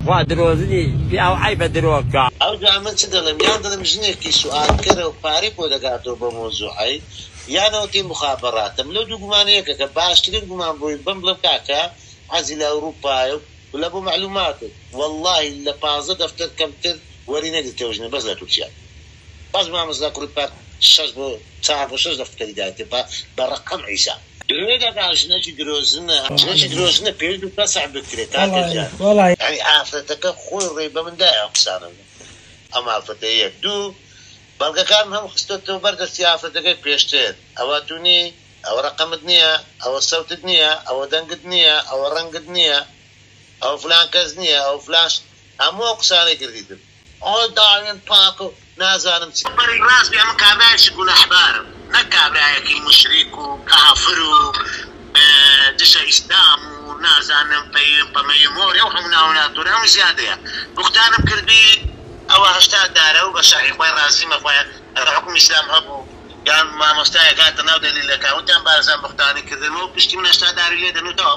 خوا درۆزنی پیاو عەیبە درۆ کا. ئەوجا من چ دەڵێم یان دەڵێم ژنێکی سوئالکەرە و پارەی خۆی دەگاتەوە بەو مەوزوعەی یان ئەوتی موخابەڕاتە من لەو دوو گومانە یەکەکە باشترین گومان بۆی بم بڵێم کاکە حەزی لە ئەوروپایە و لە بۆ مەعلوماتت وەڵاهی لە پازدە دەفتەر کەمتر وەری نەگرتەوە ژنە بەس لە تورکیا بەس مامۆستا کوڕی پاک شەش بۆ چار بۆ شەش دەفتەری دایتێ بە بە ڕەقەم عیسا. درۆ دەکا ژنەکی درۆزنە. ژنەکی درۆزنە پێویستە فەسح بکرێ کاکە جان. یانی ئافرەتەکە خۆی ڕێی بە من دایە ئەم قسانە بکات ئەم ئافرەتە یەک دوو بەڵگەکانم هەموو خستۆتەوە بەر دەستی ئافرەتەکەی پێشتر ئەوە تو نی ئەوە ڕەقەمت نیە ئەوە سەوتت نیە ئەوە دەنگت نیە ئەوە ڕەنگت نیە ئەوە فلان کەس نیە ئەوە فلان هەموو ئەو قسانەی کردیتم ئەوە داوێن پاک و نازانم چ. بە ڕێی ڕاست بێ ئەمن کابرایەکی گوناحبارم نەک کابرایەکی موشریک و کافر و دژە ئیسلام و نازانم پەیوێن پەمەیوێن مۆرێ ئەو هەموو ناوە ناتوورە ئەمن زیادەیە بوختانم کردبی ئەوە هەشتا دارە و بە شەرعی خوای ڕازیمە خوایە ئەگەر حوکمی ئیسلام هەبوو یان مامۆستایەک هاتە ناو دەلیلەکان وتیان بارزان بوختانی کردن و پشتی من هەشتا داری لێ دەنووتەوە